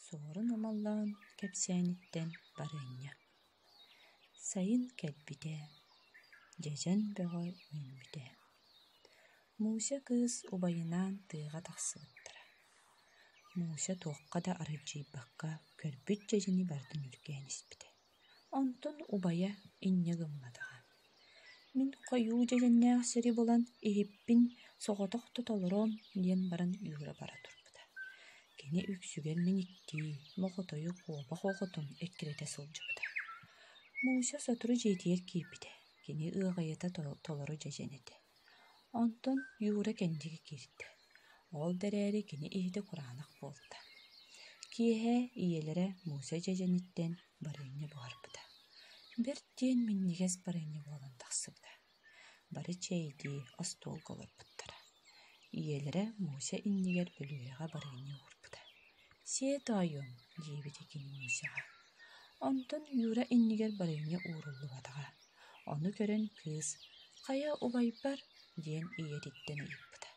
Суорун Амаллаан кэпсээниттэн барыанньа сайын кэлбитэ, дьэдьэн бөҕө үүммүтэ. Муся кыыс убайынаан тыаҕа тахсыбыттара. Муся туохха да аралдьыйбакка көрбүт дьэдьэни барытын үргээн испитэ Онтон убайа инньэ гымматаҕа: «Мин хойуу дьэдьэннээх сири булан иһиппин соҕотох да толороом» диэн баран үүрэ бара турбута. Кини үксүгэр мэниктии, моҕотойу куобах оҕотун эккирэтэ сылдьыбыта. Муся сотору дьиэтигэр киирбитэ, кини ыаҕайыта толору дьэдьэн этэ. Онтон Юра Кэндиги киирдэ: Ол да эрээри кини иһитэ кураанах буолта, киэһэ ийэлэрэ Муся дьэдьэниттэн барыанньа буһарбыта, бэрт диэн минньигэс барыанньа буолан тахсыбыта, бары чэйдии остуолга олорбуттара, ийэлэрэ Муся иннигэр бөлүһүөгэ барыанньа уурбута Сиэт оойуом, диэбитэ кини Мусяҕа. Онтон Юра иннигэр барыанньа ууруллубатаҕа. Ону көрөн кыыс «Хайа, убайбар?» диэн ийэтиттэн ыйыппыта.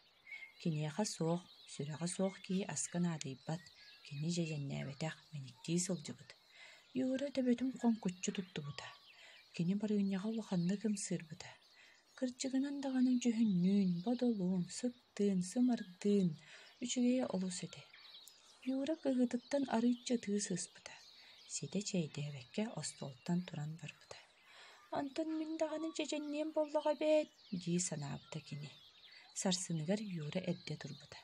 Киниэхэ суох, сүрэҕэ суох киһи аска наадыйбат, кини дьэдьэннээбэтэх, мэниктии сылдьыбыт. Юра төбөтүн хоҥкуччу туттубута. Кини барыанньаҕа улаханнык ымсыырбыта. Кырдьыгынан даҕаны дьүһүннүүн, бодолуун, сыттыын, сымардыын, үчүгэйэ олус этэ. Юра кыһыытыттан арыычча атыы сыспыта, ситэ чэйдээбэккэ остуолтан туран барбыта. «Онтон мин даҕаны чэчэнниэм буоллаҕа эбээт» дии санаабыта кини. Сарсыныгар Юра эрдэ турбута.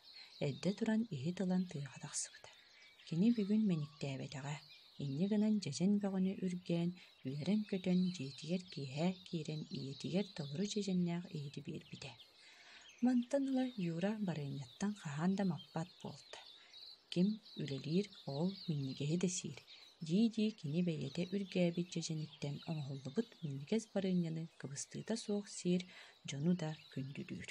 Эрдэ туран иһит ылан тыаҕа тахсыбыта. Кини бүгүн мэниктээбэтэҕэ. Инньэ гынан дьэдьэн бөҕөнү үргээн, Үөрэн-көтөн дьиэтигэр киэһэ киирэн ийэтигэр толору дьиэдьэннээх иһити биэрбитэ. Мантан ыла Юра барыанньаттан хаһан да маппат буолта. Ким үлэлиир, ол минньигэһи да сиир, дии-дии кини бэйэтэ үргээбит дьэдьэниттэн оҥоһуллубут минньигэс барыанньаны кыбыстыыта суох сиир, дьону да күндүлүүр